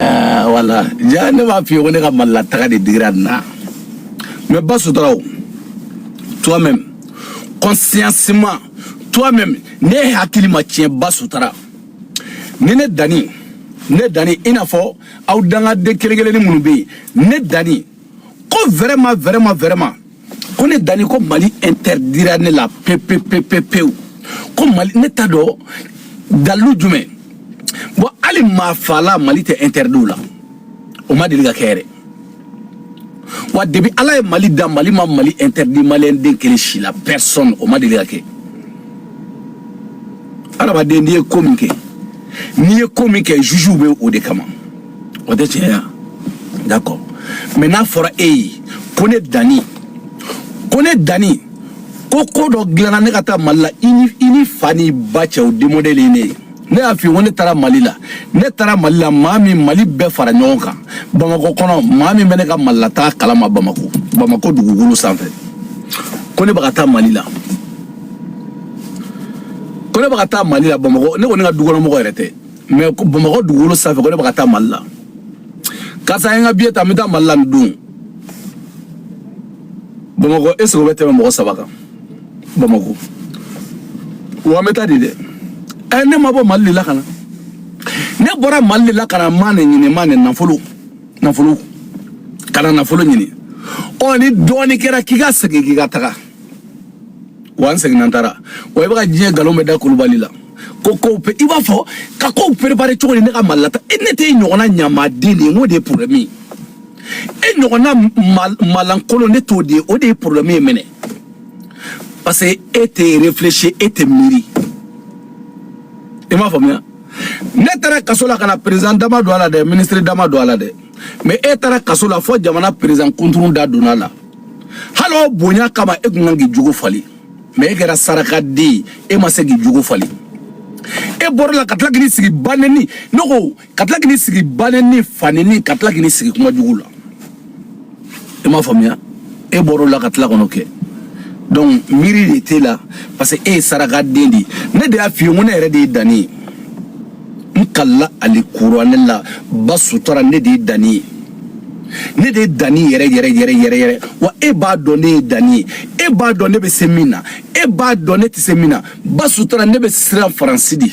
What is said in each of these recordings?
Ɛɛ, voilà ja ne b'a f'i ye ko ne ka malila taga de digira nin na mais ba sutura o toi même consciemment toi même ne hakili ma tiɲɛ ba sutura ni ne dani ne dani i n'a fɔ aw dangaden kelen kelenni minnu bɛ yen ne dani ko vraiment vraiment vraiment ko ne dani ko mali interdira ne la pepepepepewu ko mali ne t'a dɔn dalilu jumɛn bon hali maafala mali tɛ interdit o la o ma deli ka kɛ yɛrɛ wa depuis ala ye mali da mali ma mali interdit maliyɛn den kelen si la personne o ma deli ka kɛ adamaden n'i ye ko min kɛ n'i ye ko min kɛ juge bɛ o de kama o tɛ tiɲɛ ya d'accord mais n'a fɔra e ye ko ne dani ko ne dani ko ko dɔ dilanna ne ka taa mali la i ni i ni fa ni ba cɛ o de modèle ye ne ye ne y'a f'i ye ko ne taara mali la ne taara mali la maa min mali bɛɛ fara ɲɔgɔn kan bamakɔ kɔnɔ maa min bɛ ne ka malilataa kalama bamako bamako dugukolo sanfɛ ko ne bɛ ka taa mali la ko ne bɛ ka taa mali la bamakɔ ne ko ne ka dukɔnɔmɔgɔ yɛrɛ tɛ mais bamakɔ dugukolo sanfɛ ko ne bɛ ka taa mali la karisa ye n ka biye ta n bɛ taa mali la nin don bamakɔ est ce que o bɛ tɛmɛ mɔgɔ saba kan bamakɔ wa n bɛ taa de dɛ ɛ ne ma bɔ mali de la ka na ne bɔra mali de la ka na money ɲini money nafolo nafolo ka na nafolo ɲini ɔ ni dɔɔnin kɛra k'i ka segin k'i ka taga wa n seginna n taara wa i bɛ ka diɲɛ nkalon bɛɛ da kulubali la ko kow pe i b'a fɔ ka kow préparer cogo di ne ka malilataa e ne tɛ e ɲɔgɔnna ɲamaden de ye n k'o de ye problème ye e ɲɔgɔnna malankolon ne t'o de ye o de ye problème ye mɛnɛ parce que e tɛ réfléchir e tɛ miiri i m'a faamuya ne taara kaso la ka na président da ma don a la dɛ ministre da ma don a la dɛ mais e taara kaso la fo jamana président kunturu da donna a la hali o bonya kama e tun kan k'i jogo falen mais e kɛra sarakaden ye e ma se k'i jogo falen e bɔr'o la ka tila k'i sigi banɛni ne ko ka tila k'i sigi banɛni fanɛni ka tila k'i sigi kuma jugu la i m'a faamuya e bɔr'o la ka tila kɔnɔ kɛ donc miiri de t'e la parce que e ye sarakaden de ye ne de y'a f'i ye n ko ne yɛrɛ de ye dani ye n kalila alikuranɛ la ba sutura ne de ye dani ye ne de ye dani yɛrɛ yɛrɛ yɛrɛ yɛrɛ yɛrɛ wa e b'a dɔn ne ye dani ye e b'a dɔn ne bɛ se min na e b'a dɔn ne tɛ se min na ba sutura ne bɛ siran faransi de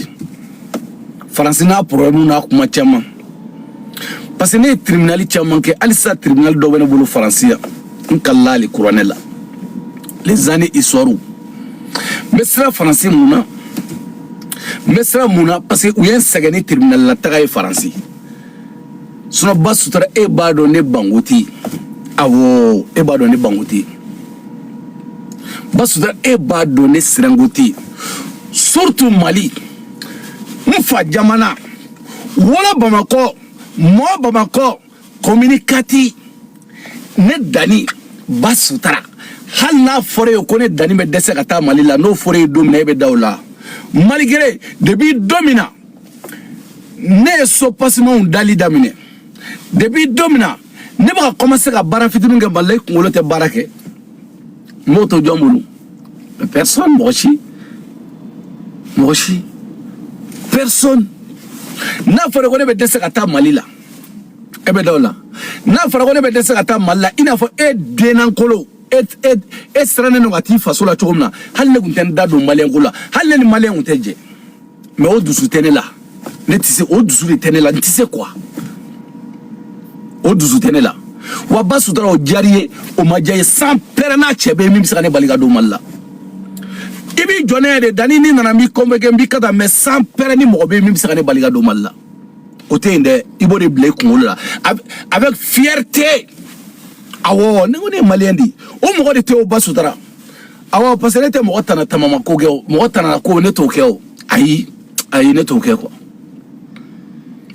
faransi n'a problème n'a kuma caman parce que ne ye tribunali caman kɛ halisa tribunali dɔ bɛ ne bolo faransi yan n kalila alikuranɛ la les années histoire n bɛ siran faransi mun na n bɛ siran mun na parce que u ye n sɛgɛn ni tribunal la taga ye faransi sinon ba sutura e b'a dɔn ne banko tɛ yen awɔ e b'a dɔn ne banko tɛ yen ba sutura e b'a dɔn ne siranko tɛ yen surtout mali n fa jamana wolo bamakɔ mɔ bamakɔ commune quatre ne dani ba sutara hali n'a fɔra i ye ko ne dani bɛ dɛsɛ ka taa mali la n'o fɔra i ye don min na e bɛ da o la malgré depuis don min na ne ye so pasimanw dali daminɛ depuis don min na ne bɛ ka commencer ka baara fitinin kɛ mali la i kunkolo tɛ baara kɛ n b'o to jɔn bolo personne mɔgɔ si mɔgɔ si personne n'a fɔra ko ne bɛ dɛsɛ ka taa mali la e bɛ da o la n'a fɔra ko ne bɛ dɛsɛ ka taa mali la i n'a fɔ e dennankolo e e e sirannen don ka t'i faso la cogo min na hali ne tun tɛ n da don maliyɛnko la hali ne ni maliyɛn tun tɛ jɛ mais o dusu tɛ ne la ne tɛ se o dusu de tɛ ne la n tɛ se quoi o dusu tɛ ne la wa ba sutura o diyara i ye o ma diya i ye sanpɛrɛn n'a cɛ bɛ yen min bɛ se ka ne bali ka don mali la i b'i jɔ ne yɛrɛ de dani ni nana n b'i convoquer n b'i ka taa mais sanpɛrɛn ni mɔgɔ bɛ yen min bɛ se ka ne bali ka don mali la o tɛ yen dɛ i b'o de bila i kunkolo la avec fierté awɔ ne ko ne ye maliyɛn de ye o mɔgɔ de tɛ o ba sutura awɔ parce que ne tɛ mɔgɔ tana tamama ko kɛ o mɔgɔ tanana ko ne t'o kɛ o ayi ayi ne t'o kɛ quoi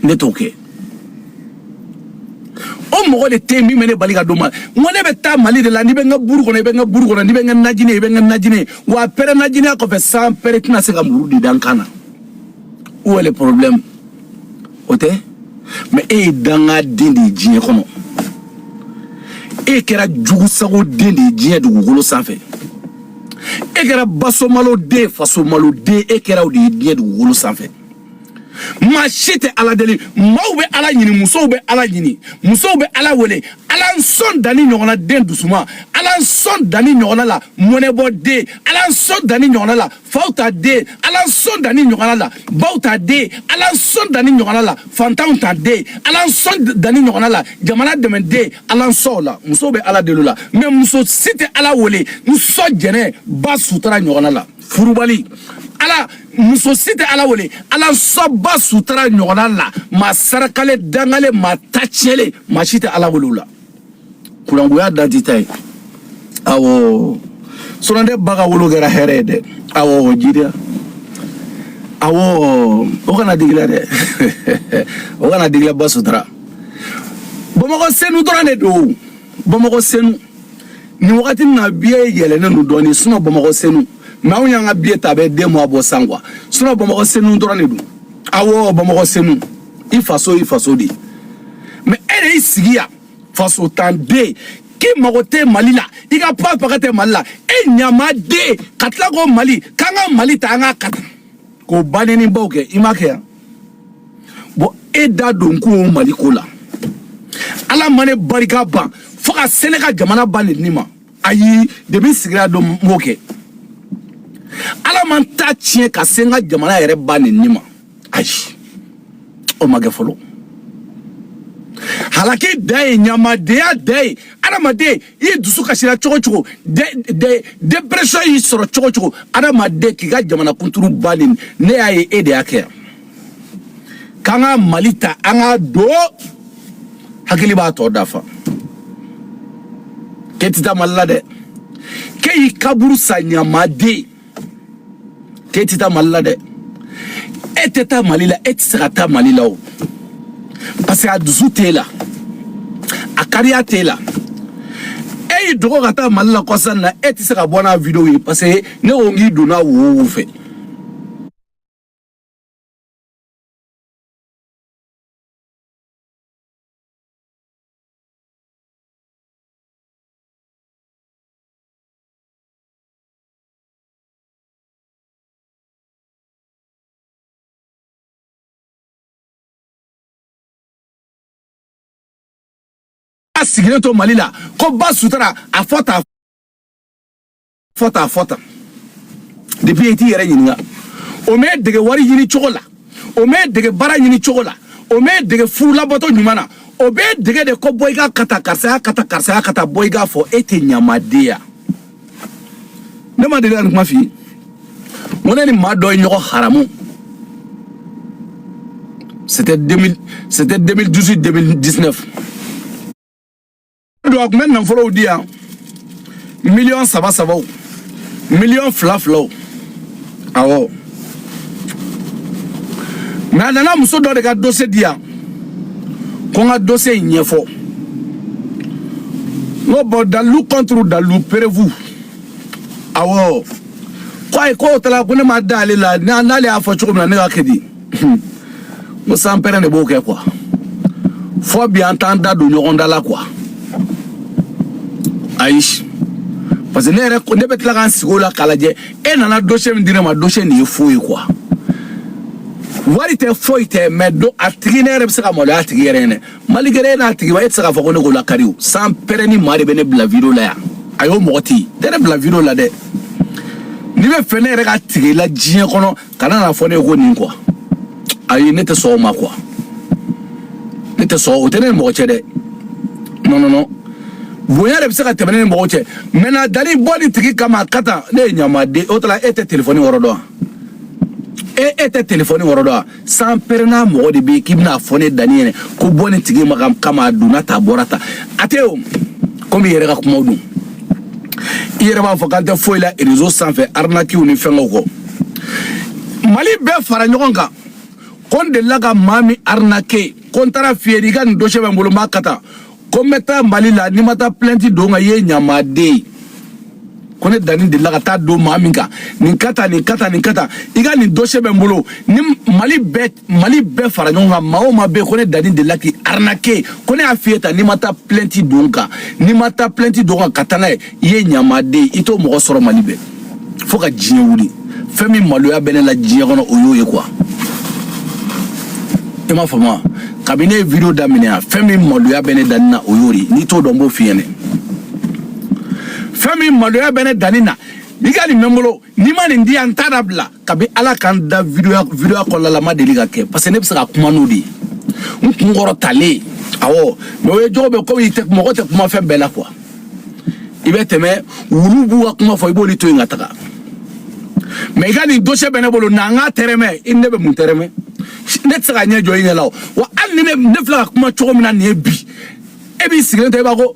ne t'o kɛ o mɔgɔ de tɛ yen min bɛ ne bali ka don mali n ko ne bɛ taa mali de la n'i bɛ n ka buru kɔnɔ i bɛ n ka buru kɔnɔ n'i bɛ n ka najini i bɛ n ka najini wa a pɛrɛn najiniya kɔfɛ sanpɛrɛn tɛna se ka muru de da n kan na où est le problème o tɛ mais e ye dangaden de ye diɲɛ kɔnɔ e kɛra jugusago den de ye diɲɛ dugukolo sanfɛ e kɛra basomalo den fasomalo den e kɛra o de ye diɲɛ dugukolo sanfɛ maa si tɛ ala deli maaw bɛ ala ɲini musow bɛ ala ɲini musow bɛ ala wele ala n sɔn danni ɲɔgɔnna den dusuma ala n sɔn danni ɲɔgɔnna la mɔnɛbɔ den ala n sɔn danni ɲɔgɔnna la faw ta den ala n sɔn danni ɲɔgɔnna la baw ta den ala n sɔn danni ɲɔgɔnna la fantanw ta den ala n sɔn danni ɲɔgɔnna la jamana dɛmɛ den ala n sɔn o la musow bɛ ala deli o la mais muso si tɛ ala wele n sɔn jɛnɛ ba sutura ɲɔgɔnna la furubali ala muso si tɛ ala wele ala n sɔn ba sutura ɲɔgɔnna la maa sarakalen dangalen maa ta tiɲɛlen maa si tɛ ala wele o la kurangoya dan tɛ ta ye awɔ sɔrɔndɛ ba ka wolo kɛra hɛrɛ ye dɛ awɔ jiriya awɔ o kana digi i la dɛ o kana digi i la ba sutura bamakɔ senu dɔrɔn de don bamakɔ senu nin wagati na biye yɛlɛnnen don dɔɔnin sinon bamakɔ senu mais anw y'an ka biye ta bɛ deux mois bɔ san quoi sinon bamakɔ senu dɔrɔn de don awɔ bamakɔ senu i faso i faso de ye mais e de y'i sigi yan fasontan den k'i mago tɛ mali la i ka pa paga tɛ mali la e ɲamaden ka tila ko mali k'an ka mali ta an ka kata k'o ba nɛni baw kɛ i ma kɛ yan bon e da don ko o mali ko la ala ma ne barika ban fo ka se ne ka jamana ba nɛni ma ayi depuis sigira don m'o kɛ ala ma n ta tiɲɛ ka se n ka jamana yɛrɛ ba nɛni ma ayi o ma kɛ fɔlɔ halaki dan ye ɲamadenya dan ye adamaden i ye dusu kasira cogo o cogo depression y'i sɔrɔ cogo o cogo adamaden k'i ka jamana kunturu ba nɛni ne y'a ye e de y'a kɛ yan k'an ka mali ta an ka don hakili b'a tɔ dafa k'e tɛ taa mali la dɛ k'e y'i kaburu sa ɲamaden k'e ti taa mali la dɛ e tɛ taa mali la e tɛ se ka taa mali la o parce que a dusu t'e la a kariya t'e la e y'i dogo ka taa mali la kɔsa in na e tɛ se ka bɔ n'a video ye parce que ne ko n k'i donna wo wo fɛ a sigilen to mali la ko ba sutura a fɔ ta fɔ ta fɔ ta depuis i t'i yɛrɛ ɲininka o m'e dege wari ɲini cogo la o m'e dege baara ɲini cogo la o m'e dege furu labato ɲuman na o b'e dege de ko bɔ i ka kata karisaya kata karisaya kata bɔ i k'a fɔ e tɛ ɲamaden ya ne ma deli ka nin kuma f'i ye n ko ne ni maa dɔ ye ɲɔgɔn haramu c'était 2000 c'était 2018 2019 don a tun bɛ nafolow di yan miliyɔn saba sabaw miliyɔn fila filaw awɔ mɛ a nana muso dɔ de ka dose di yan ko n ka dose in ɲɛfɔ n ko bɔn dalilu kɔnturu dalilu perevu awɔ ko ayi k'o t'a la ko ne ma da ale la n'ale y'a fɔ cogo min na ne ka kɛ di n ko sanpɛrɛn de b'o kɛ kuwa fo bi an t'an da don ɲɔgɔn da la kuwa ayi parce que ne bɛ tila ka n sigi o la k'a lajɛ e nana dose min di ne ma dose nin ye fo ye kuwa wari tɛ foyi tɛ mɛ a tigi ne yɛrɛ bɛ se ka maloya a tigi yɛrɛ ɲɛ na maligɛrɛ e n'a tigi ba e tɛ se k'a fɔ ko ne k'o lakari o sanpɛrɛn ni maa de bɛ ne bila video la yan ayi o mɔgɔ tɛ yen tɛ ne bila video la dɛ n'i b'a fɛ ne yɛrɛ ka tigɛ i la diɲɛ kɔnɔ kana n'a fɔ ne ye ko nin kuwa ayi ne tɛ sɔn o ma kuwa ne tɛ sɔn o tɛ ne ni mɔgɔ cɛ dɛ non non non bonya de bɛ se ka tɛmɛ ne ni mɔgɔ cɛ mɛ na dani bɔ nin tigi kama ka tan ne ye ɲamaden o t'a la e tɛ telefɔni yɔrɔ dɔn e e tɛ telefɔni yɔrɔ dɔn sanpɛrɛn ni mɔgɔ de bɛ yen k'i bɛna fɔ ne dani yɛrɛ ko bɔ nin tigi ma kama a donna tan a bɔra tan a tɛ o komi i yɛrɛ ka kumaw don i yɛrɛ b'a fɔ k'an tɛ foyi la rezo sanfɛ arnakiw ni fɛngɛw kɔ mali bɛɛ fara ɲɔgɔn kan ko n delila ka maa min arnake ko n taar'a f'i ye i ka nin dosɛ bɛ n bolo n b'a kɛ tan ko n bɛ taa mali la n'i ma taa plɛnti don n kan i ye ɲamaden ko ne dani delila ka taa don maa min kan nin kɛ tan nin kɛ tan nin kɛ tan i ka nin dosɛ bɛ n bolo ni mali bɛɛ mali bɛɛ fara ɲɔgɔn kan maa o maa bɛ yen ko ne dani delila k'i arnake ko ne y'a f'i ye tan n'i ma taa plɛnti don n kan n'i ma taa plɛnti don n kan ka taa n'a ye i ye ɲamaden i t'o mɔgɔ sɔrɔ mali bɛɛ fo ka diɲɛ wuli fɛn min maloya bɛ ne la diɲɛ kɔnɔ o y'o ye kuwa i m'a faamu wa kabini ne ye video daminɛ yan fɛn min maloya bɛ ne dani na o y'o de ye n'i t'o dɔn n b'o f'i ɲɛ na fɛn min maloya bɛ ne dani na i ka nin bɛ n bolo n'i ma nin di yan n t'a dabila kabi ala k'an da videoya videoya kɔlɔlala ma deli ka kɛ parce que ne bɛ se ka kuma n'o de ye n kun kɔrɔtalen awɔ mɛ o ye jogo bɛ komi tɛ mɔgɔ tɛ kuma fɛn bɛɛ la kuwa i bɛ tɛmɛ wulu b'u ka kuma fɔ i b'olu to yen ka taga mɛ i ka nin dosɛ bɛ ne bolo na n k'a tɛrɛmɛ i ni ne bɛ mun tɛrɛmɛ ne tɛ se ka n ɲɛ jɔ i ɲɛ la o wa hali ni ne filɛ ka kuma cogo min na nin ye bi e b'i sigilen to i b'a ko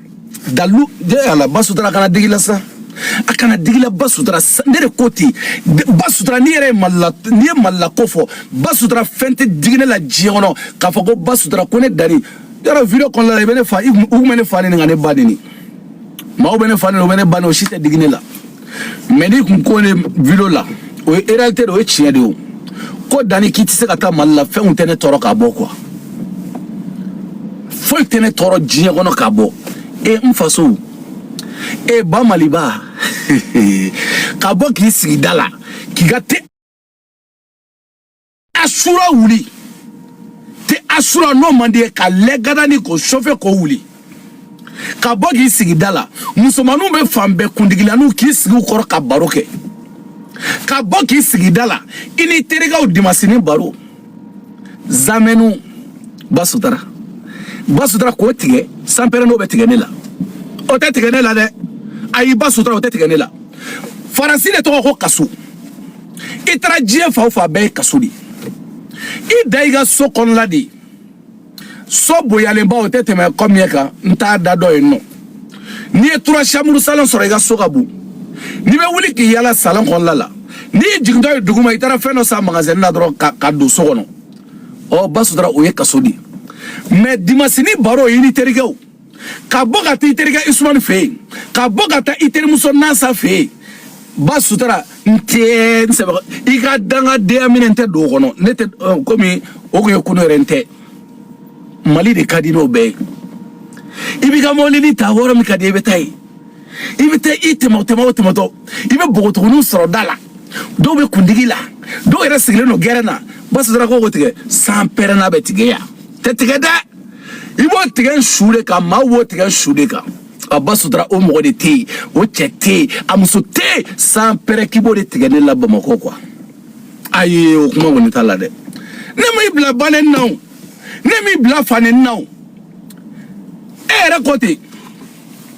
dalu de ala ba sutura kana digi i la sa a kana digi i la ba sutura ne de ko ten ba sutura n'i yɛrɛ ye mali la n'i ye mali la ko fɔ ba sutura fɛn tɛ digi ne la diɲɛ kɔnɔ k'a fɔ ko ba sutura ko ne dani yɛrɛ video kɔnɔna la i bɛ ne fa u tun bɛ ne fa neni ka ne ba neni maaw bɛ ne fa neni u bɛ ne ba neni o si tɛ digi ne la mɛ n'i kun ko ne video la o ye réalité de o ye tiɲɛ de o ko danni k'i tɛ se ka taa mali la fɛnw tɛ ne tɔɔrɔ ka bɔ kuwa foyi tɛ ne tɔɔrɔ diɲɛ kɔnɔ ka bɔ e n faso e ba maliba ka bɔ k'i sigi da la k'i ka te asura wuli te asura n'o man di i ye ka lɛgada ni k'o sɔfɛ k'o wuli ka bɔ k'i sigi da la musomaninw bɛ fan bɛɛ kundigilanniw k'i sigi u kɔrɔ ka baro kɛ ka bɔ k'i sigi da la i ni terikɛw dimasinin baro zamɛniw ba sutara ba sutara k'o tigɛ sanpɛrɛ n'o bɛ tigɛ ne la o tɛ tigɛ ne la dɛ ayi ba sutara o tɛ tigɛ ne la faransi de tɔgɔ ko kaso i taara diɲɛ fan o fan bɛɛ ye kaso de ye i dan i ka so kɔnɔna de ye so bonyalenba o tɛ tɛmɛ combien kan n t'a da dɔ yen nɔ n'i ye trois chambres salon sɔrɔ i ka so ka bon n'i bɛ wuli k'i yaala salon kɔnɔna la n'i jigintɔ ye duguma i taara fɛn dɔ san magasɛni na dɔrɔn ka don so kɔnɔ ɔ ba sutura o ye kaso de ye mɛ dimasinin baro i ni terikɛw ka bɔ ka taa i terikɛ usumani fɛ yen ka bɔ ka taa i terimuso nasa fɛ yen ba sutura n tɛ n sɛbɛ i ka dangadenya minɛ n tɛ don o kɔnɔ ne tɛ komi o kun ye kunu yɛrɛ n tɛ mali de ka di n'o bɛɛ ye i b'i ka mɔbilinin ta yɔrɔ min ka di i bɛ taa yen i bɛ taa i tɛmɛ tɛmɛ o tɛmɛtɔ i bɛ npogotigininw sɔrɔ da la dɔw bɛ kundigi la dɔw yɛrɛ sigilen don gɛrɛn na ba sutura ko k'o tigɛ san pɛrɛ n'a bɛ tigɛ yan tɛ tigɛ dɛ i b'o tigɛ n su de kan maa b'o tigɛ n su de kan a ba sutura o mɔgɔ de tɛ yen o cɛ tɛ yen a muso tɛ yen san pɛrɛ k'i b'o de tigɛ ne la bamakɔ kuwa ayi o kuma kɔni t'a la dɛ ne m'i bila bannen na o ne m'i bila fannen na o e yɛrɛ ko ten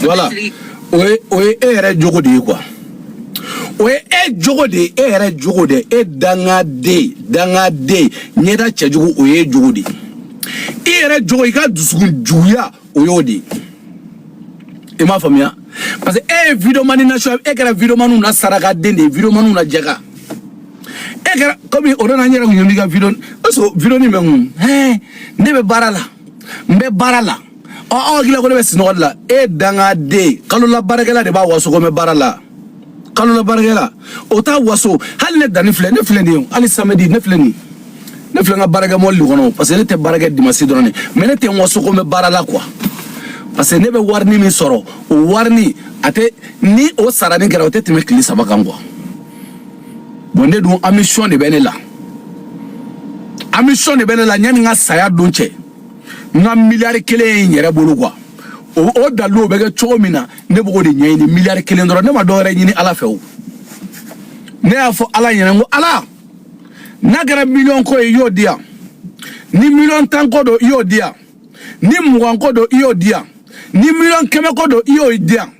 voilà o ye o ye e yɛrɛ jogo de ye kuwa o ye e jogo de ye e yɛrɛ jogo de e dangaden dangaden ɲɛda cɛjugu o ye e jogo de ye i yɛrɛ jogo i ka dusukun juguya o y'o de ye i m'a faamuya parce que e ye videomani na sɔn e kɛra videomaniw na sarakaden de ye videomaniw na jaka e kɛra komi o nana n yɛrɛ kun ye n b'i ka video o y'a sɔrɔ video nin bɛ n kun ne bɛ baara la n bɛ baara la ɔ aw hakili la ko ne bɛ sinɔgɔ de la e dangaden kalola baarakɛla de b'a waso ko n bɛ baara la kalola baarakɛla o t'a waso hali ne danni filɛ ne filɛ nin ye hali samedi ne filɛ nin ye ne filɛ n ka baarakɛ mɔbili de kɔnɔ parce que ne tɛ baarakɛ dimasi dɔrɔn de mɛ ne tɛ n waso ko n bɛ baara la kuwa parce que ne bɛ warini min sɔrɔ o warini a tɛ ni o sarani kɛra o tɛ tɛmɛ tile saba kan kuwa bɔn ne dun ambition de bɛ ne la ambition de bɛ ne la yanni n ka saya don cɛ n ka miliyari kelen ye n yɛrɛ bolo quoi o dalilu o bɛ kɛ cogo min na ne b'o ko de ɲɛɲini miliyari kelen dɔrɔn ne ma dɔwɛrɛ ɲini ala fɛ o ne y'a fɔ ala ɲɛna n ko ala n'a kɛra miliyɔn ko ye i y'o di yan ni miliyɔn tan ko don i y'o di yan ni mugan ko don i y'o di yan ni miliyɔn kɛmɛ ko don i y'o di yan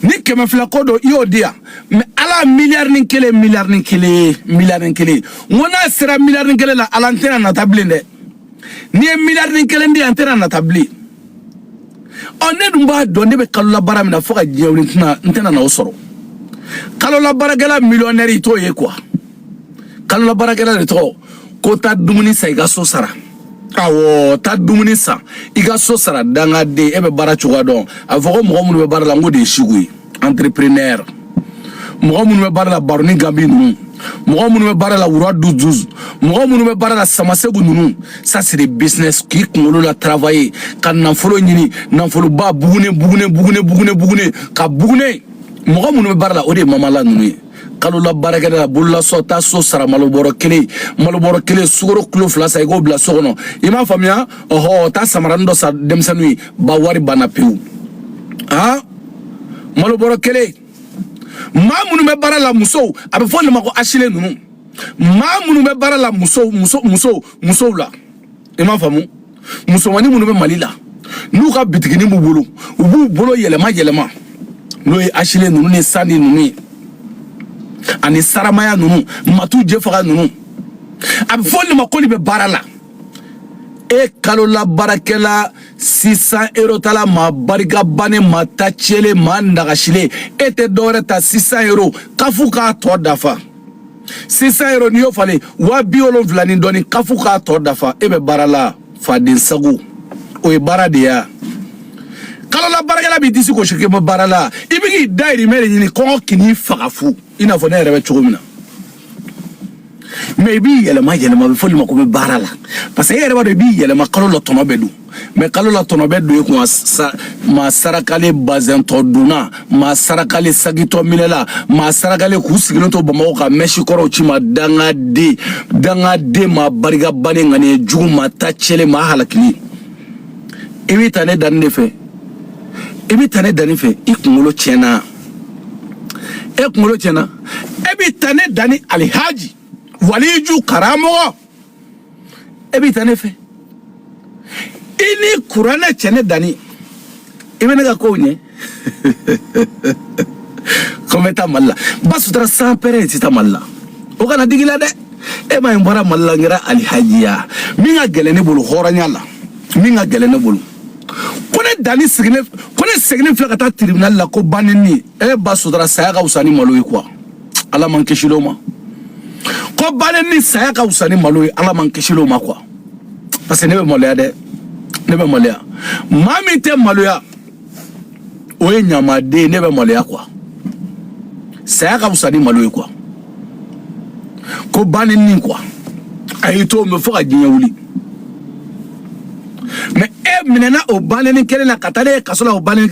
ni kɛmɛ fila ko don i y'o di yan mais ala miliyarinin kelen miliyarinin kelen miliyarinin kelen n ko n'a sera miliyarinin kelen la ala n tɛna nata bilen dɛ n'i ye miliyarinin kelen di yan n tɛna nata bilen ɔ ne dun b'a dɔn ne bɛ kalola baara min na fo ka diɲɛ wuli n tɛna na o sɔrɔ kalola baarakɛla miliyɔnɛri i t'o ye quoi kalola baarakɛla de tɔgɔ ko taa dumuni san i ka so sara awɔ taa dumuni san i ka so sara dangaden e bɛ baara cogoya dɔn a bɛ fɔ ko mɔgɔ minnu bɛ baara la n ko de ye siku ye entrepreneur mɔgɔ minnu bɛ baara la baroni ganbi ninnu mɔgɔ minnu bɛ baara la wura duzuz mɔgɔ minnu bɛ baara la samasegu ninnu ça c'est des business k'i kunkolo la travailler ka nafolo ɲini nafoloba bugune bugune bugune bugune bugune ka bugune mɔgɔ minnu bɛ baara la o de ye mama la ninnu ye kalola baarakɛla bololasɔ taa so sara malobɔrɔ kelen malobɔrɔ kelen sukaro kilo fila san i k'o bila so kɔnɔ i m'a faamuya ɔhɔ taa samaranin dɔ san denmisɛnninw ye ba wari banna pewu han malobɔrɔ kelen maa minnu bɛ baara la musow a bɛ fɔ olu ma ko asile ninnu maa minnu bɛ baara la musow muso musow musow la i m'a faamu musomannin minnu bɛ mali la n'u ka bitiginin b'u bolo u b'u bolo yɛlɛma yɛlɛma n'o ye asile ninnu ni sani ninnu ye ani saramaya ninnu matu jefaga ninnu a bɛ fɔ olu ma k'olu bɛ baara la e kalola baarakɛla six cents euro tala maa barika bannen maa ta cɛlen maa nagasilen e tɛ dɔwɛrɛ ta six cents euro caf k'a tɔ dafa six cents euro n'i y'o falen waa bi wolonfila ni dɔɔni caf k'a tɔ dafa e bɛ baara la faden sago o ye baara de y'a kalola baarakɛla b'i disi gosi k'i bɛ baara la i bɛ k'i dayirimɛ de ɲini kɔngɔ kan'i faga fu i n'a fɔ ne yɛrɛ bɛ cogo min na mais i b'i yɛlɛma yɛlɛma a bɛ fɔ olu ma k'u bɛ baara la parce que e yɛrɛ b'a dɔn i b'i yɛlɛma kalo la tɔnɔ bɛ don mais kalo la tɔnɔ bɛ don i kun maa sarakalen bazɛn tɔ donna maa sarakalen saki tɔ minɛla maa sarakalen k'u sigilen to bamakɔ ka mɛsi kɔrɔw ci i ma dangaden dangaden maa barikabannen ŋaniya jugu maa ta cɛlen maa halakilen i b'i ta ne danni de fɛ i b'i ta ne danni fɛ i kunkolo tiɲɛna e kunkolo tiɲɛna e b'i ta ne danni alihaji waliju karamɔgɔ e b'i ta ne fɛ i ni kuranɛ cɛ ne danni i bɛ ne ka kow ɲɛ ko n bɛ taa mali la ba sutura sans père i tɛ taa mali la o kana digi i la dɛ e ma ye n bɔra mali la n kɛra alihajiya min ka gɛlɛn ne bolo hɔrɔnya la min ka gɛlɛn ne bolo ko ne danni sigilen ko ne seginnen filɛ ka taa tiribinali la ko ba neni e ba sutura saya ka fisa ni malo ye kuwa ala m'an kisi o ma ko ba neni saya ka fisa ni malo ye ala m'an kisi o ma kuwa parce que ne bɛ maloya dɛ ne bɛ maloya maa min tɛ maloya o ye ɲamaden ye ne bɛ maloya kuwa saya ka fisa ni malo ye kuwa ko ba neni kuwa a y'i to mɛ fo ka diɲɛ wuli mɛ e minɛna o ba neni kelen na ka taa n'e ye kaso la o ba neni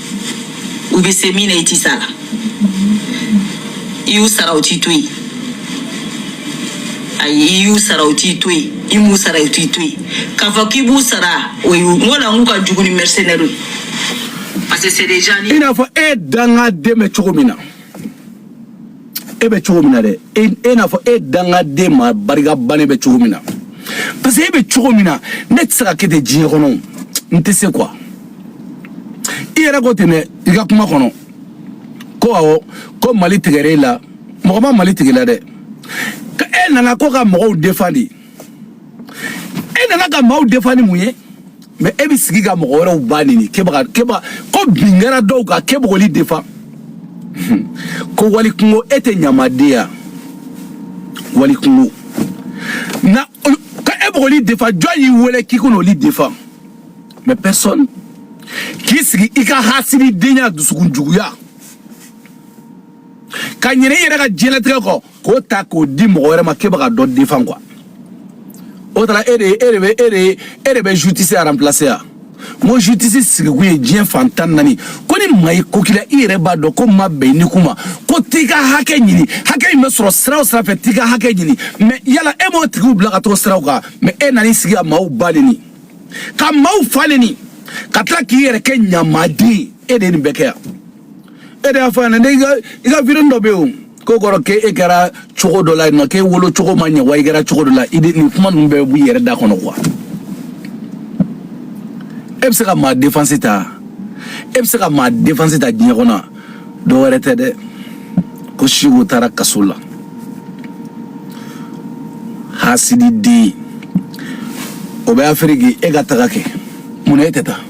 u bɛ se min na i tɛ s'a la i y'u sara u t'i to yen ayi i y'u sara u t'i to yen i m'u sara u t'i to yen k'a fɔ k'i b'u sara o ye n ko la n k'u ka jugu ni mercenaire ye parce que c'est des gens i n'a fɔ e dangaden bɛ cogo min na e bɛ cogo min na dɛ i n'a fɔ e dangaden maa barika bannen bɛ cogo min na parce que e bɛ cogo min na ne tɛ se ka kɛ ten diɲɛ kɔnɔ n tɛ se quoi i yɛrɛ ko ten dɛ i ka kuma kɔnɔ ko awɔ ko mali tigɛra e la mɔgɔ ma mali tigɛ e la dɛ e nana ko ka mɔgɔw defandi e nana ka maaw defan ni mun ye mɛ e bɛ sigi ka mɔgɔ wɛrɛw ba neni k'e bɛ ka k'e bɛ ko bin kɛra dɔw kan k'e bɛ k'olu defan ko wali kunko e tɛ ɲamadenya wali kunko na k'e bɛ k'olu defan jɔn y'i wele k'i ka n'olu defan mɛ personne k'i sigi i ka hasidenya dusukun juguya ka ɲinɛ i yɛrɛ ka diɲɛlatigɛ kɔ k'o ta k'o di mɔgɔ wɛrɛ ma k'e bɛ ka dɔ defan kuwa o tara e de e de bɛ e de e de bɛ jutisi aranpilase yan n ko jutisi sigikun ye diɲɛ fan tan naani ko ni maa y'i ko k'i la i yɛrɛ b'a dɔn k'o ma bɛn ni kuma ko t'i ka hakɛ ɲini hakɛ in bɛ sɔrɔ sira o sira fɛ t'i ka hakɛ ɲini mɛ yala e m'o tigiw bila ka t'o siraw kan mɛ e nan'i sigi ka maaw ba neni ka maaw fa neni ka tila k'i yɛrɛ kɛ ɲamaden e de ye nin bɛɛ kɛ yan e de y'a fɔ yan dɛ i ka i ka video dɔ bɛ yen o Ko kɔrɔkɛ e kɛra cogo dɔ la yen nɔ k'e wolo cogo ma ɲɛ wa i kɛra cogo dɔ la i nin kuma ninnu bɛɛ b'i yɛrɛ da kɔnɔ kuwa e bɛ se ka maa défense ta e bɛ se ka maa défense ta diɲɛ kɔnɔ dɔ wɛrɛ tɛ dɛ ko Siko taara kaso la hasidi den o bɛ afiriki e ka taga kɛ mun e tɛ taa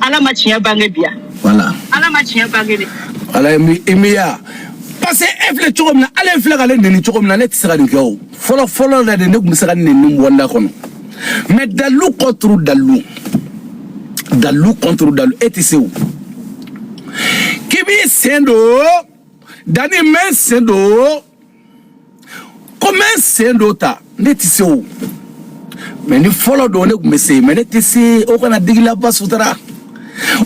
ala ma tiɲɛ bange bi voilà ala ma tiɲɛ bange de ala i miya parce que e filɛ cogo min na ale filɛ k'ale neni cogo min na ne tɛ se ka nin kɛ o fɔlɔ fɔlɔ la de ne tun bɛ se ka neni bɔ n da kɔnɔ mais dalu contre dalu dalu contre dalu e tɛ se o k'i b'i sen don dani mɛ sen don komi n sen dɔ ta ne tɛ se o mais ni fɔlɔ don ne tun bɛ se mais ne tɛ se o kana digi la basutara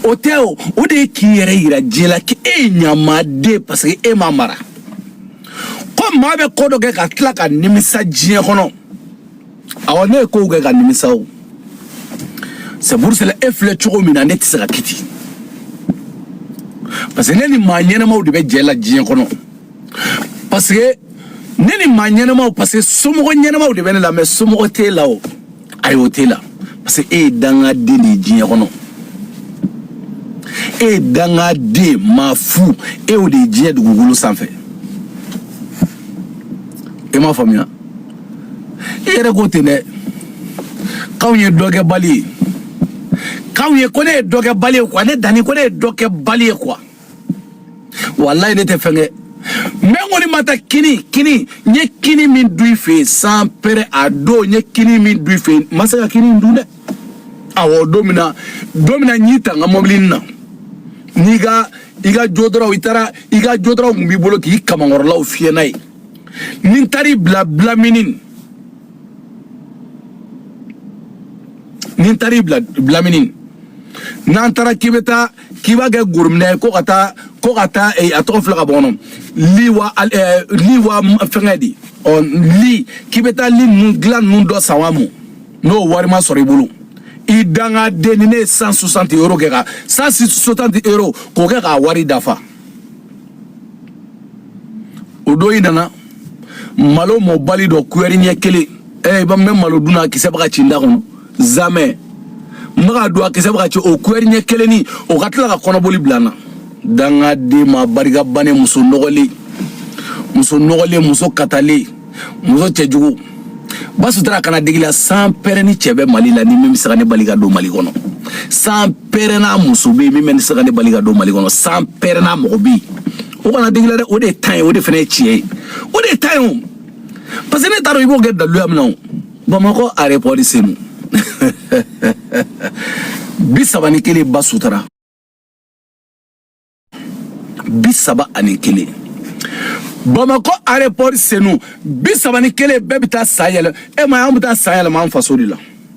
o tɛ o de ye k'i yɛrɛ yira diɲɛ la k'e ye ɲamaden parce que e ma mara ko maa bɛ ko dɔ kɛ ka tila ka nimisa diɲɛ kɔnɔ awɔ ne ye kow kɛ ka nimisa o c'est pour cela e filɛ cogo min na ne tɛ se ka kiti parce que ne ni maa ɲɛnamaw de bɛ jɛ la diɲɛ kɔnɔ parce que ne ni maa ɲɛnamaw parce que somɔgɔ ɲɛnamaw de bɛ ne la mais somɔgɔ t'e la o ayi o t'e la parce que e ye dangaden de ye diɲɛ kɔnɔ e ye dangaden maa fu e y'o de ye diɲɛ dugukolo sanfɛ e m'a faamuya i yɛrɛ ko ten dɛ k'anw ye dɔ kɛbali ye k'anw ye ko ne ye dɔ kɛbali ye quoi ne dani ko ne ye dɔ kɛbali ye quoi walayi ne tɛ fɛn kɛ mais n kɔni ma taa kini kini n ye kini min dun i fɛ yen sans père a don n ye kini min dun i fɛ yen n ma se ka kini in dun dɛ awɔ don min na don min na n y'i ta n ka mɔbili in na n'i ka i ka déodorant i taara i ka déodorant tun b'i bolo k'i kamankɔrɔlaw fiyɛ n'a ye ni n taar'i bila blanc-mesnil ni n taar'i bila blanc-mesnil n'an taara k'i bɛ taa k'i b'a kɛ gorominɛ ye ko ka taa ko ka taa eh, a tɔgɔ filɛ ka bɔ n kɔnɔ leroy al- eh, leroy m- fɛngɛ de ɔ li k'i bɛ taa lit ninnu dilan ninnu dɔ san wa mu n'o wari ma sɔrɔ i bolo i dangaden ni ne ye cent soixante euro kɛ ka cent soixante euro k'o kɛ k'a wari dafa o don i nana malo mɔbali dɔ kuyɛri ɲɛ kelen ee ba n bɛ malo dun na kisɛ bɛ ka ci n da kɔnɔ zamɛ n bɛ ka don a kisɛ bɛ ka ci o kuyɛri ɲɛ kelen ni o ka tila ka kɔnɔboli bila n na dangaden maa barika bannen muso nɔgɔlen muso nɔgɔlen muso katalen muso cɛjugu basutara kana digi la sans père ni cɛ bɛ mali la ni min bɛ se ka ne bali ka don mali kɔnɔ sans père n'a muso bɛ yen min bɛ se ka ne bali ka don mali kɔnɔ sans père n'a mɔgɔ bɛ yen o kana digi la dɛ o de ye tan ye o de fana ye tiɲɛ ye o de ye tan ye o parce que ne t'a dɔn i b'o kɛ daluya min na o bamakɔ aéroport de senu bi saba ni kelen basutara bi saba ani kelen bamakɔ aéroport de senu bi saba ni kelen bɛɛ bɛ taa san yɛlɛma an bɛ taa san yɛlɛma an faso de la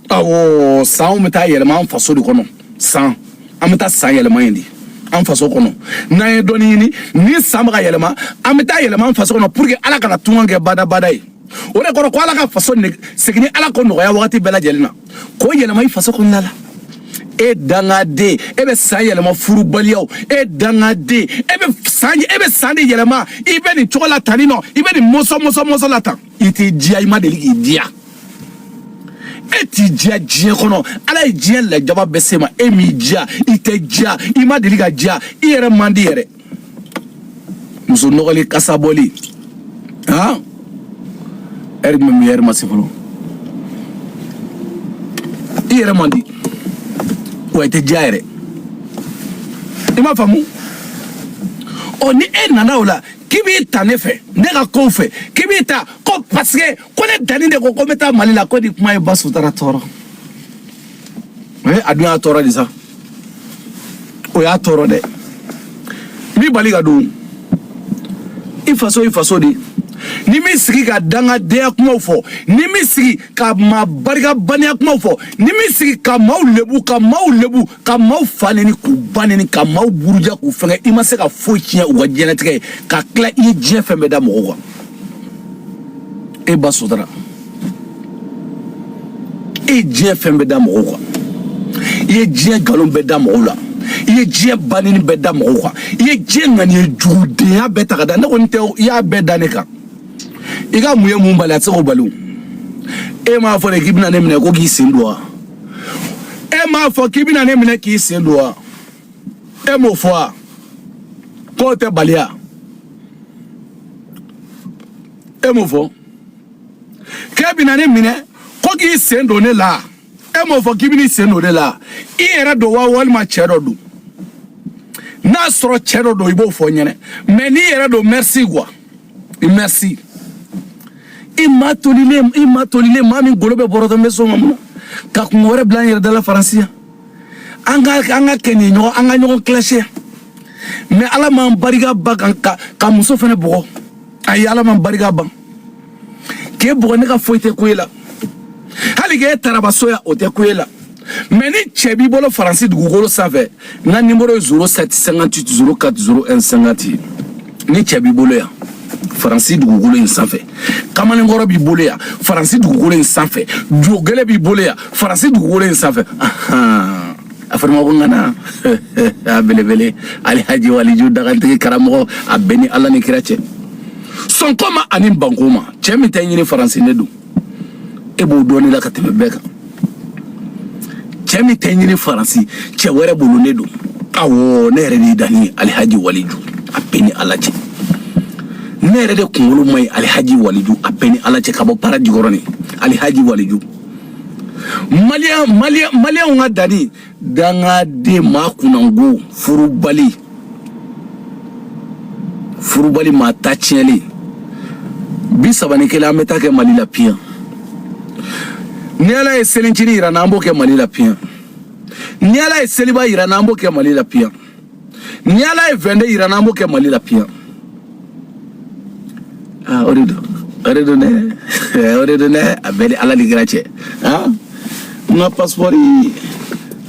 awɔ san bɛ taa yɛlɛma an faso de kɔnɔ san an bɛ taa san yɛlɛma yen de an faso kɔnɔ n'an ye dɔɔni ɲini ni san bɛ ka yɛlɛma an bɛ taa yɛlɛma an faso kɔnɔ pour que ala kana tunga kɛ badabada ye o de kɔrɔ ko ala ka faso segin ni ala ko nɔgɔya wagati bɛɛ lajɛlen na k'o yɛlɛma i faso kɔnɔna la e dangaden e bɛ san yɛlɛma furubaliyaw e dangaden e bɛ san e bɛ san de yɛlɛma i bɛ nin cogo la tan nin nɔ i bɛ nin mɔsɔn mɔsɔn mɔsɔn la tan i t'i diya i ma deli k'i diya e t'i diya diɲɛ kɔnɔ ala ye diɲɛ lajaba bɛɛ se ma e m'i diya i tɛ diya i ma deli ka diya i yɛrɛ man di yɛrɛ muso nɔgɔlen kasa bɔlen han heure jumɛn bɛ heure ma se fɔlɔ i yɛrɛ man di wa i tɛ diya yɛrɛ i m'a faamu ɔ ni e nana o la k'i b'i ta ne fɛ ne ka kow fɛ k'i b'i ta ko parce que ko ne danni de ko ko n bɛ taa mali la ko nin kuma ye basutara tɔɔrɔ o ye a dun y'a tɔɔrɔ de sa o y'a tɔɔrɔ dɛ mun b'i bali ka don i faso i faso de n'i m'i sigi ka dangadenya kumaw fɔ n'i m'i sigi ka maa barikabaniya kumaw fɔ n'i m'i sigi ka maaw lebu ka maaw lebu ka maaw fa neni k'u ba neni ka maaw buruja k'u fɛngɛ i ma se ka foyi tiɲɛ u ka diɲɛnatigɛ ye ka tila i ye diɲɛ fɛn bɛɛ da mɔgɔw kan e basutara e ye diɲɛ fɛn bɛɛ da mɔgɔw kan i ye diɲɛ nkalon bɛɛ da mɔgɔw la i ye diɲɛ baneni bɛɛ da mɔgɔw kan i ye diɲɛ ŋaniye jugudenya bɛɛ ta ka da ne kɔni tɛ i y'a bɛɛ da ne kan i ka mun ye mun bali a tɛ se k'o bali o e m'a fɔ de k'i bɛna ne minɛ ko k'i sen don wa e m'a fɔ k'i bɛna ne minɛ k'i sen don wa e m'o fɔ wa k'o tɛ baliya e m'o fɔ k'e bɛna ne minɛ ko k'i sen don ne la e m'o fɔ k'i bɛna i sen don ne la i yɛrɛ don wa walima cɛ dɔ don n'a sɔrɔ cɛ dɔ don i b'o fɔ n ɲɛna mais n'i yɛrɛ don merci quoi i merci i maa tolilen i maa tolilen maa min golo bɛ bɔrɔtɔ n bɛ so ma mun na ka kunko wɛrɛ bila n yɛrɛ da la faransi yan an ka an ka kɛ nin ɲɔgɔn an ka ɲɔgɔn clasher mais ala m'an barika ban ka ka muso fana bugɔ ayi ala m'an barika ban k'e bugɔ ne ka foyi tɛ ko e la hali k'e tarabaso ya o tɛ ko e la mɛ ni cɛ b'i bolo faransi dugukolo sanfɛ n ka nimoro ye zero sɛti sɛnkanti witi zero kati zero ɛn sɛnkanti ni cɛ b'i bolo yan faransi dugukolo in sanfɛ kamalenkɔrɔ b'i bolo yan faransi dugukolo in sanfɛ jogɛlɛ b'i bolo yan faransi dugukolo in sanfɛ a fɔr'a ma ko ŋana belebele alihaji waliju dagantigi karamɔgɔ a bɛɛ ni ala ni kira cɛ sɔnko ma ani banko ma cɛ min tɛ ɲini faransi ne don e b'o dɔɔni la ka tɛmɛ bɛɛ kan cɛ min tɛ ɲini faransi cɛ wɛrɛ bolo ne don awɔ ne yɛrɛ de ye danni ye alihaji waliju a bɛɛ ni ala cɛ ne yɛrɛ de kunkolo ma ɲi alihaji waliju a bɛɛ ni ala cɛ ka bɔ para jikɔrɔni alihaji waliju maliyɛnw ka danni dangaden maa kunnango furubali furubali maa ta tiɲɛlen bisaba ni kelen an bɛ t'a kɛ mali la piyan ni ala ye selincinin yir'an na an b'o kɛ mali la piyan ni ala ye seliba yir'an na an b'o kɛ mali la piyan ni ala ye vɛnde yir'an na an b'o kɛ mali la piyan ah, o de don o de don dɛ o de don dɛ a bɛɛ ni ala ni kira cɛ ah, n ka pasipɔri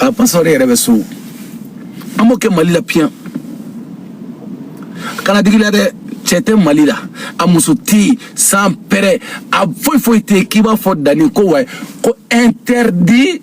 a pasipɔri yɛrɛ bɛ so an b'o kɛ mali la piyan kana dig'i la dɛ cɛ tɛ mali la a muso tɛ yen san pɛrɛ a foyi foyi tɛ yen k'i b'a fɔ danni ko wa ko interdit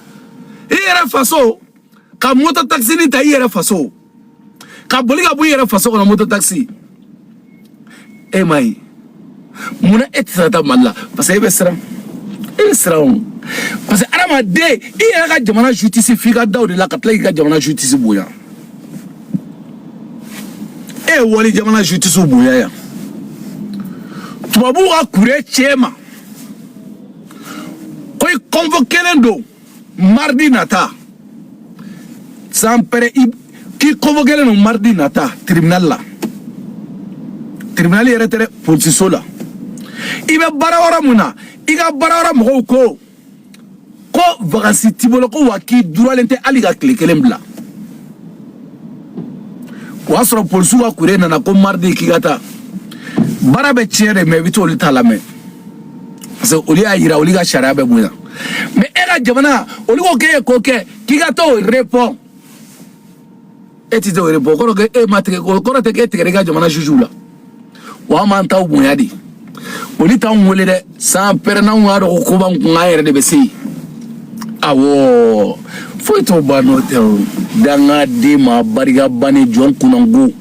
i yɛrɛ faso ka moto takisini ta i yɛrɛ faso ka boli ka bɔ i yɛrɛ faso kɔnɔ moto takisi e ma ye munna e tɛ se ka taa mali la parce que e bɛ siran e bɛ siran o parce que adamaden i yɛrɛ ka jamana jutisi f'i ka da o de la ka tila k'i ka jamana jutisi bonya e ye wali jamana jutisiw bonya yan tubabuw ka courrier cɛ ma ko i convoquelen don maridi nata san pɛrɛ k'i convoquelen don maridi nata tribunal la tribunal yɛrɛ tɛ dɛ polisiso la i bɛ baara yɔrɔ min na i ka baarayɔrɔ mɔgɔw ko ko vakansi t'i bolo ko wa k'i duralen tɛ hali ka tile kelen bila o y'a sɔrɔ polisiw ka courrier nana ko maridi k'i ka taa baara bɛ tiɲɛ de mɛ i bɛ t'olu ta lamɛn parce que olu y'a yira olu ka sariya bɛ bonya mɛ e ka jamana olu ko k'e ye ko kɛ k'i ka t'o repɔn e tɛ t'o repɔn o kɔrɔ k'e ma tigɛ o kɔrɔ tɛ k'e tigɛra i ka jamana jujuw la wa an m'an taw bonya de olu t'anw wele dɛ san pɛrɛ n'anw y'a dɔn ko ko b'an kun an yɛrɛ de bɛ se yen awɔ foyi t'o ban n'o tɛ o dangaden maa barika bannen jɔn kunnango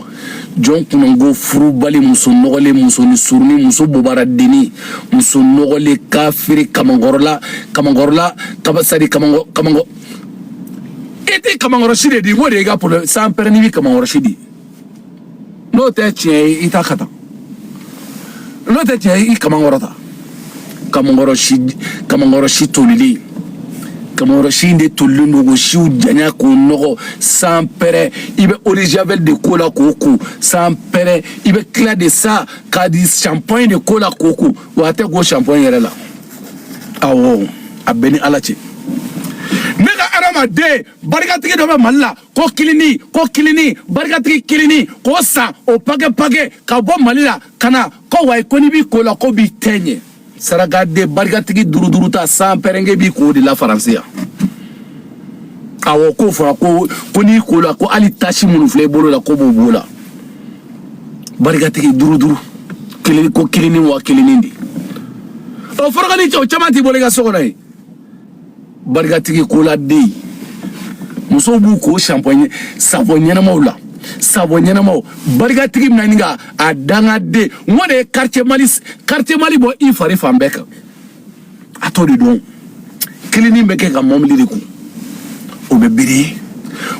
jɔn kunnango furubali muso nɔgɔlen musonin surunnin muso bobaradennin muso nɔgɔlen kafiri kamankɔrɔla kamankɔrɔla kaba sadi kamankɔ kamankɔ e tɛ kamankɔrɔsi de di i b'o de ye i ka problème san pɛrɛ n'i bɛ kamankɔrɔsi di n'o tɛ tiɲɛ ye i t'a kɛ tan n'o tɛ tiɲɛ ye i kaman kɔrɔta kamankɔrɔ si kamankɔrɔ si tolilen kamankɔrɔ si in de tolilen don k'o siw janya k'o nɔgɔ san pɛrɛ i bɛ eau de javel de k'o la k'o ko san pɛrɛ i bɛ tila de sa k'a di shampoing de k'o la k'o ko wa a tɛ ko shampoing yɛrɛ la awɔ a bɛɛ ni ala cɛ ne ka adamaden barikatigi dɔ bɛ mali la ko kilini ko kilini barikatigi kilini k'o san o pake pake ka bɔ mali la ka na ko wayi ko n'i b'i k'o la k'o b'i teint ɲɛ sarakaden barikatigi duuru duuru ta san pɛrɛ n k'e b'i k'o de la faransi yan awɔ k'o fɔra ko ko n'i ko la ko hali tache minnu filɛ i bolo la k'o b'o b'o la barikatigi duuru duuru kilini ko kilini wa kilini de ɔ forokonin cɛ o caman t'i bolo i ka so kɔnɔ yen barikatigi koladen musow b'u ko shampoing savon ɲɛnamaw la savon ɲɛnamaw barikatigi bɛna ɲini ka a dangaden n ko de ye quartier mali quartier mali bɔ i fari fan bɛɛ kan a t'o de dɔn kilini bɛ kɛ ka mɔbili de ko o bɛ biri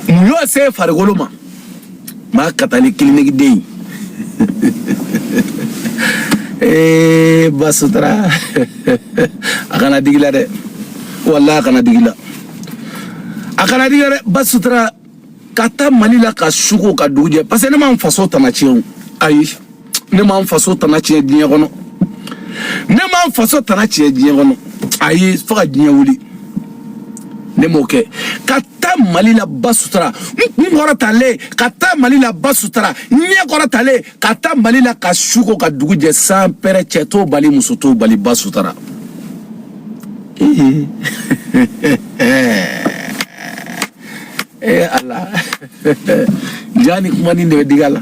mun y'o se farikolo ma maa ka taa ni kilinigiden ye ee ba sutura a kana digi la dɛ wallahi a kana digi la a kana digi la dɛ ba sutura ka taa mali la ka su ko ka dugu jɛ parce que ne ma n faso tana tiɲɛ o ayi ne ma n faso tana tiɲɛ diɲɛ kɔnɔ ne ma n faso tana tiɲɛ diɲɛ kɔnɔ ayi fo ka diɲɛ wuli ne m'o kɛ ka taa mali la ba sutura n kun kɔrɔtalen ka taa mali la ba sutura n ɲɛ kɔrɔtalen ka taa mali la ka su ko ka dugu jɛ san pɛrɛ cɛ t'o bali muso t'o bali ba sutura ee ee ala ja ni kuma nin de bɛ digi a la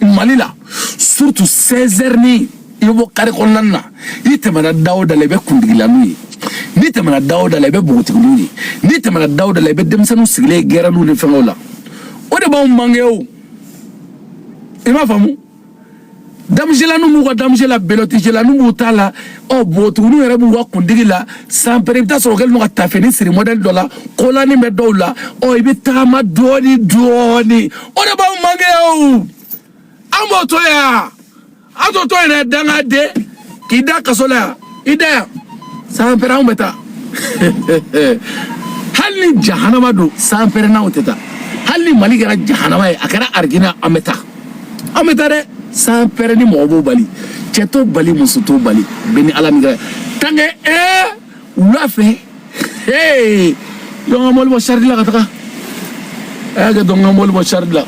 mali la surtout 16 heures ni i bɔ carré kɔnɔna na i tɛmɛna da o da la i bɛ kundigilaninw ye n'i tɛmɛna da o da la i bɛ npogotigininw ye n'i tɛmɛna da o da la i bɛ denmisɛnninw sigilen ye gɛrɛnninw ni fɛnkɛw la o de b'anw manqué o i m'a faamu damuselaninw b'u ka damuse la belɔtijelaninw b'u ta la ɔ npogotigininw yɛrɛ b'u ka kundigi la san pere i bɛ t'a sɔrɔ kɛlen don ka taafinin siri mɔdɛli dɔ la kolani bɛ dɔw la ɔ i bɛ tagama dɔɔni dɔɔni o de b'aw manke o an b'o to yan an t'o to yen dɛ dangaden k'i da kaso la yan i da yan san pere anw bɛ taa hali ni jahanama don san pere n'anw tɛ taa hali ni mali kɛra jahanama ye a kɛra arijina an bɛ taa. an bɛ taa dɛ san pɛrɛ ni mɔgɔ b'o bali cɛ t'o bali muso t'o bali bɛɛ ni ala min kɛra tanke ee wula fɛ ee dɔn ka mɔbili bɔ saridi la ka taga a y'a kɛ dɔn ka mɔbili bɔ saridi la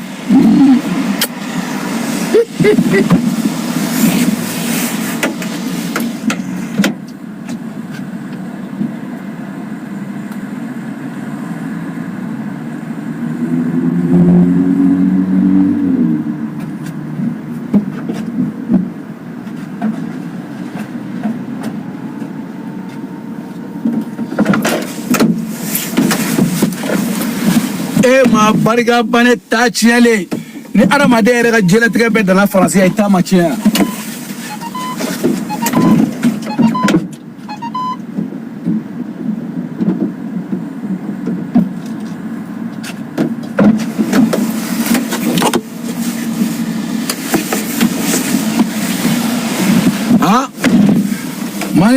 e ma barika ban e ta tiɲɛlen ni adamaden yɛrɛ ka diɲɛlatigɛ bɛɛ dala faransi yan i ta ma tiɲɛ yan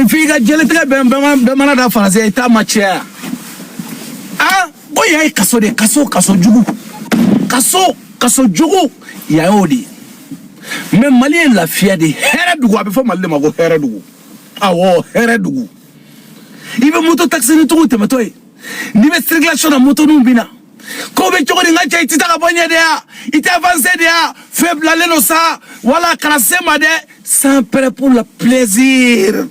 Nin f'i ka diɲɛlatigɛ bɛɛ mana da faransi i ta ma tiɲɛ o y'a ye kaso de kaso kaso jugu kaso kaso jugu yan y'o de ye mais mali ye lafiya de hɛrɛ dugu a bɛ fɔ mali de ma ko hɛrɛ dugu awɔ hɛrɛ dugu i bɛ moto takisini tigiw tɛmɛtɔ ye n'i bɛ circulation na motoniw bɛ na ko bɛ cogo di n ka cɛ i tɛ taa ka bɔ yen de ya i tɛ avancer de ya feu bilalen don sa wala kana se n ma dɛ sans prêt pour le plaisir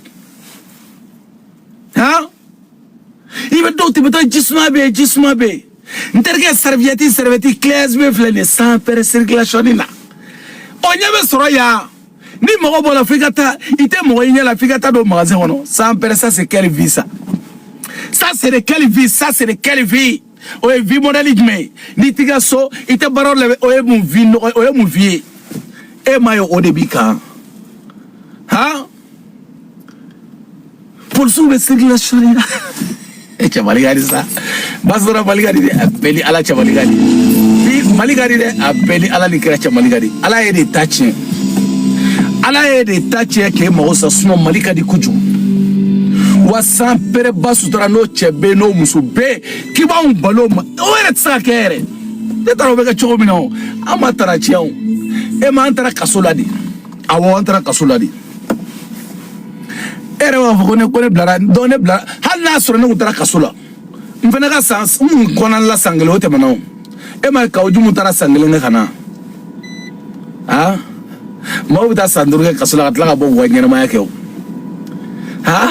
han. i bɛ dɔw tɛmɛtɔ jisuma bɛ yen jisuma bɛ yen n terikɛ saribiyɛti saribiyɛti glace bɛ filɛ nin ye sans pere circulation na o ɲɛ bɛ sɔrɔ yan ni mɔgɔ bɔla f'i ka taa i tɛ mɔgɔ i ɲɛ la f'i ka taa don magasin kɔnɔ sans pere ça c'est quelle vie ça ça c'est de quelle vie ça c'est de quelle vie o ye vie modèle jumɛn ye n'i t'i ka so i tɛ baara la o ye mun vie nɔgɔ o ye mun vie ye e ma ye o de b'i kan han. polisiw bɛ circulation na e cɛ mali ka di sa basɔrɔ mali ka di dɛ a bɛɛ ni ala cɛ mali ka di bi mali ka di dɛ a bɛɛ ni ala ni kira cɛ mali ka di ala y'e de ta tiɲɛ ala y'e de ta tiɲɛ k'e mago sa sinɔn mali ka di kojugu wa san pere ba sutura n'o cɛ bɛ yen n'o muso bɛ yen k'i b'anw bal'o ma o yɛrɛ tɛ se ka kɛ yɛrɛ ne taara o bɛ kɛ cogo min na o an ma tara tiɲɛ o e m'an taara kaso la de awɔ an taara kaso la de e yɛrɛ b'a fɔ ko ne ko ne bilara donc ne bilara hali n'a sɔrɔ ne kun taara kaso la n fana ka san n kun kɔnɔna la san kelen o tɛmɛna o e ma ye kawu jimu taara san kelen kɛ ka na a maaw bɛ taa san duuru kɛ kaso la ka tila ka bɔ k'u ka ɲɛnamaya kɛ o ha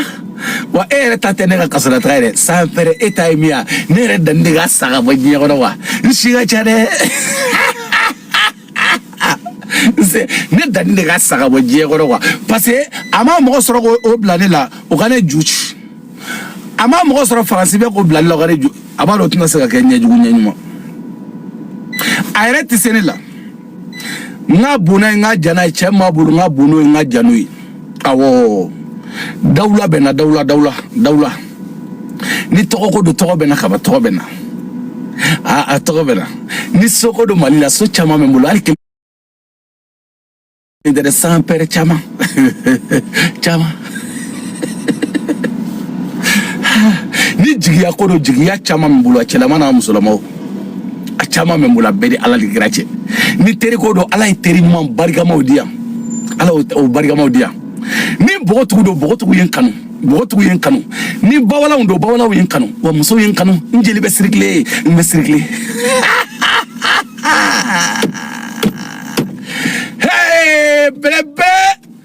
wa e yɛrɛ ta tɛ ne ka kasolataga yɛrɛ san pɛrɛ e ta ye min ye ne yɛrɛ danni de ka sa ka bɔ diɲɛ kɔnɔ wa n si ka ca dɛ ne danni de ka sa ka bɔ diɲɛ kɔnɔ kuwa parce que a ma mɔgɔ sɔrɔ k'o bila ne la o ka ne ju ci a ma mɔgɔ sɔrɔ faransi bɛ k'o bila ne la o ka ne ju a b'a dɔn o tɛna se ka kɛ ɲɛjugu ɲɛɲuman a yɛrɛ tɛ se ne la n ka bon n'a ye n ka jan n'a ye cɛ min b'a bolo n ka bon n'o ye n ka jan n'o ye awɔ dawula bɛ n na dawula dawula dawula ni tɔgɔko don tɔgɔ bɛ n na kaba tɔgɔ bɛ n na a a tɔgɔ bɛ n na ni soko don mali la so caman bɛ n bolo hali kelen tɛ dɛ san pɛrɛ caman caman ni jigiya ko don jigiya caman bɛ n bolo a cɛlama n'a musolama o a caman bɛ n bolo a bɛɛ ni ala ni kira cɛ ni teri ko don ala ye teri ɲuman barikamaw di yan ala o barikamaw di yan ni bogotigi don bogotigi ye n kanu bogotigi ye n kanu ni bawalaw don bawalaw ye n kanu wa musow ye n kanu n jeli bɛ sirikile n bɛ sirikile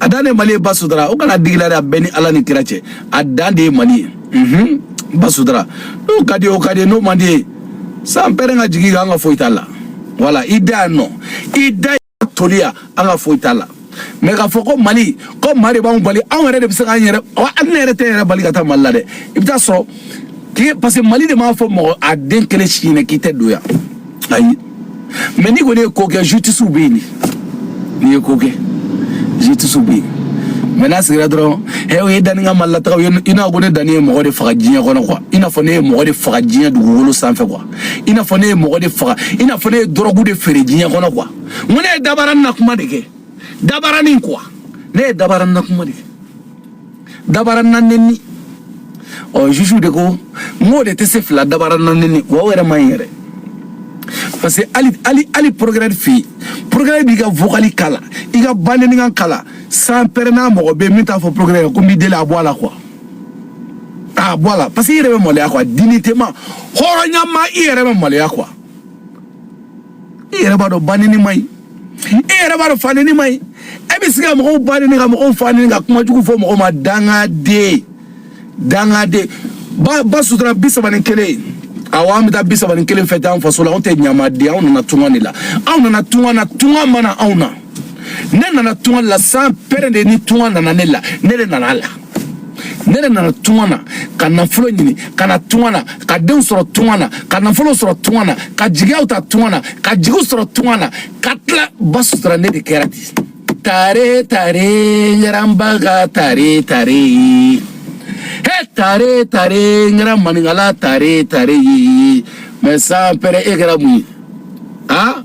a dan de mali ye ba sutura o kana digi i la dɛ a bɛɛ ni ala ni kira cɛ a dan de ye mali ye mhm ba sutura n'o ka di o ka di n'o man di i ye san pɛrɛ ka jigin kan an ka foyi t'a la wala i da yan nɔ i da yan toliya an ka foyi t'a la mɛ k'a fɔ ko mali ko maa de b'anw bali anw yɛrɛ de bɛ se k'an yɛrɛ wa hali ne yɛrɛ tɛ n yɛrɛ bali ka taa mali la dɛ i bɛ taa sɔrɔ k'i parce que mali de m'a fɔ mɔgɔ a den kelen si ɲinɛ k'i tɛ don yan ayi mɛ n'i kɔni ye ko kɛ justice bɛ yen de n'i ye ko kɛ justice bɛ yen mɛ n'a sigira dɔrɔn ɛ o ye danni ka malilataga ye i n'a ko ne danni ye mɔgɔ de faga diɲɛ kɔnɔ kuwa i n'a fɔ ne ye mɔgɔ de faga diɲɛ dugukolo sanfɛ kuwa i n'a fɔ ne ye mɔgɔ de faga i n'a fɔ ne ye dɔrɔgu de feere diɲɛ kɔnɔ kuwa n ko ne ye dabarani na kuma de kɛ dabarani kuwa ne ye dabarani na kuma de kɛ dabara na nenni ɔ jugu de ko n k'o de tɛ se fila dabara na nenni wa o yɛrɛ man ɲi yɛrɛ parce que hali hali hali progrès fɛ yen progrès b'i ka vocali k'a la i ka banennikan k'a la san pɛrɛ n'a mɔgɔ bɛ yen min t'a fɔ progrès ko n b'i deli a bɔ a la quoi a bɔ a la parce que i yɛrɛ bɛ maloya quoi dignité ma hɔrɔnya ma i yɛrɛ bɛ maloya quoi. i yɛrɛ b'a dɔn banenni man ɲi e yɛrɛ b'a dɔn fanenni man ɲi e bɛ se ka mɔgɔw ba neni ka mɔgɔw fa neni ka kuma jugu fɔ mɔgɔw ma dangaden dangaden ba ba sutura bi saba ni kelen awɔ an bɛ taa bi saba ni kelen fɛti an faso la anw tɛ ɲamaden anw nana tunga de la anw nana tunga na tunga ma na anw na ne nana tunga la sans père de ni tunga nana ne la ne de nana la ne de nana tunga na ka nafolo ɲini ka na tunga na ka denw sɔrɔ tunga na ka nafolo sɔrɔ tunga na ka jigiyaw ta tunga na ka jigiw sɔrɔ tunga na ka tila ba sutura ne de kɛra di tare tare ɲɛranbaga tare tare ye he tare tare ɲɛra maninkala tare tare ye mais sans père e kɛra mun ye a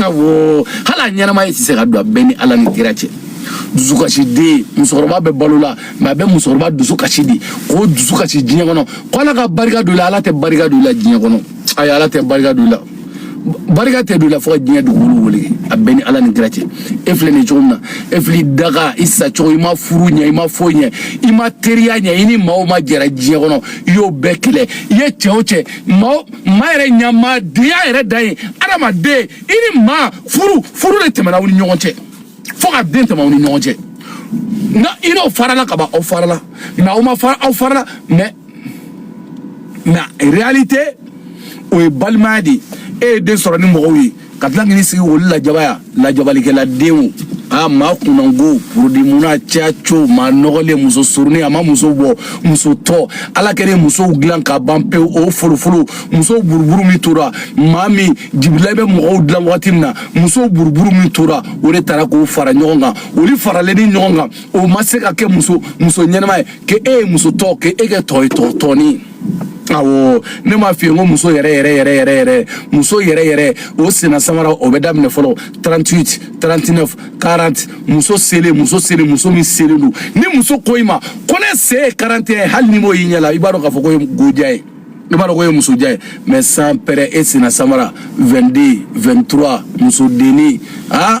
awɔ hali a ɲɛnama e tɛ se ka don a bɛ n ni ala ni kira cɛ dusukasi den musokɔrɔba bɛ balo la mais a bɛ musokɔrɔba dusu kasi di k'o dusu kasi diɲɛ kɔnɔ ko ala ka barika don i la ala tɛ barika don i la diɲɛ kɔnɔ ayi ala tɛ barika don i la barika tɛ don i la fo ka diɲɛ dugukolo wuli a bɛ n ni ala ni kira cɛ e filɛ nin cogo min na e fili daga i sa cogo i ma furu ɲɛ i ma foyi ɲɛ i ma teriya ɲɛ i ni maa o maa jɛra diɲɛ kɔnɔ i y'o bɛɛ kɛlɛ i ye cɛ o cɛ maa o maa yɛrɛ ɲamaadenya yɛrɛ dan ye adamaden i ni maa furu furu de tɛmɛna aw ni ɲɔgɔn cɛ fo ka den tɛmɛ aw ni ɲɔgɔn cɛ nka i n'aw farala ka ban aw farala n'aw ma fara aw farala mais la réalité o ye balimaya de ye e ye den sɔrɔ ni mɔgɔw ye ka tila k'i sigi olu lajabaya lajabalikɛla denw a ma kunango produit munna caco ma nɔgɔlen muso surunin a ma muso bɔ muso tɔ ala kɛlen musow dilan ka ban pewu o folofolo musow buruburu min tora maa min jibirila bɛ mɔgɔw dilan wagati min na musow buruburu min tora o de taara k'o fara ɲɔgɔn kan olu faralen ni ɲɔgɔn kan o ma se ka kɛ muso muso ɲɛnama ye ke e ye muso tɔ ke e kɛ tɔ ye tɔ tɔɔni awɔ ne m'a f'i ye n ko muso yɛrɛ yɛrɛ yɛrɛ yɛrɛ yɛrɛ muso yɛrɛ yɛrɛ o senna samara o bɛ daminɛ fɔlɔ 38 39 40 muso selen muso selen muso min selen don ni muso ko i ma ko ne sen ye 41 ye hali n'i m'o y'i ɲɛ la i b'a dɔn k'a fɔ k'o ye go jan ye i b'a dɔn k'o ye musojan ye mais sans père e senna samara 22 23 musodenni aa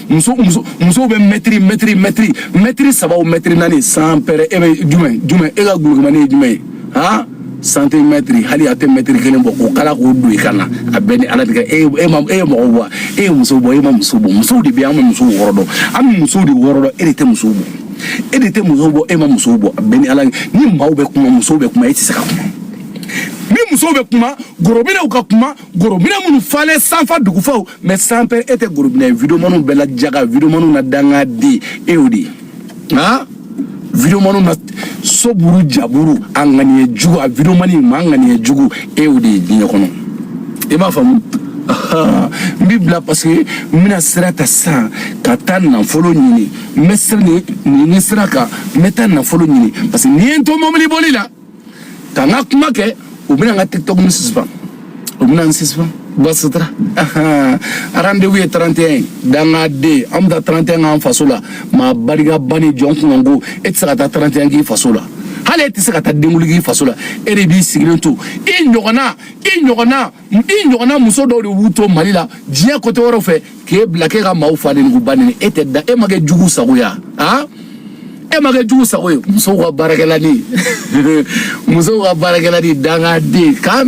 muso muso musow bɛ mɛtiri mɛtiri mɛtiri mɛtiri saba o mɛtiri naani sans père e bɛ jumɛn jumɛn e ka gulogumani ye jumɛn ye han santimɛtiri hali a tɛ mɛtiri kelen bɔ k'o kala k'o don i kan na a bɛ n ni ala cɛ e e ma e ye mɔgɔ bɔ e ye muso bɔ e ma muso bɔ musow de bɛ an bɛ musow wɔrɔ dɔn an bɛ musow de wɔrɔ dɔn e de tɛ musow bɔ e de tɛ musow bɔ e ma musow bɔ a bɛ n ni ala ni maaw bɛ kuma musow bɛ kuma e tɛ se ka kuma ni musow bɛ kuma gorobinɛw ka kuma gorobinɛ minnu falen sanfa dugufaw mais sans père e tɛ gorobinɛ videomaniw bɛɛ la jaga videomaniw na danga de e y'o de ye han videomaniw na soburu jaburu a ŋaniya jugu a videomani ma ŋaniya jugu e y'o de ye diɲɛ kɔnɔ i b'a faamu n b'i bila parce que n bɛna sira ta sisan ka taa nafolo ɲini n bɛ sira nin nin sira kan n bɛ taa nafolo ɲini parce que nin ye n to mɔbili boli la ka n ka kuma kɛ u bɛna n ka tiktok nin suspend u bɛna n suspend basitara rendez-vous ye 31 dangaden an bɛ taa 31 k'an faso la maa barika bannen jɔn kunnango e tɛ se ka taa 31 k'i faso la hali e tɛ se ka taa denkundi k'i faso la e de b'i sigilen to i ɲɔgɔnna i ɲɔgɔnna n i ɲɔgɔnna muso dɔw de b'u to mali la diɲɛ côté wɛrɛw fɛ k'e bila k'e ka maaw fa neni k'u ba neni e tɛ da e ma kɛ jugu sago ye wa e ma kɛ jugu sago ye musow ka baarakɛlanin musow ka baarakɛlanin dangaden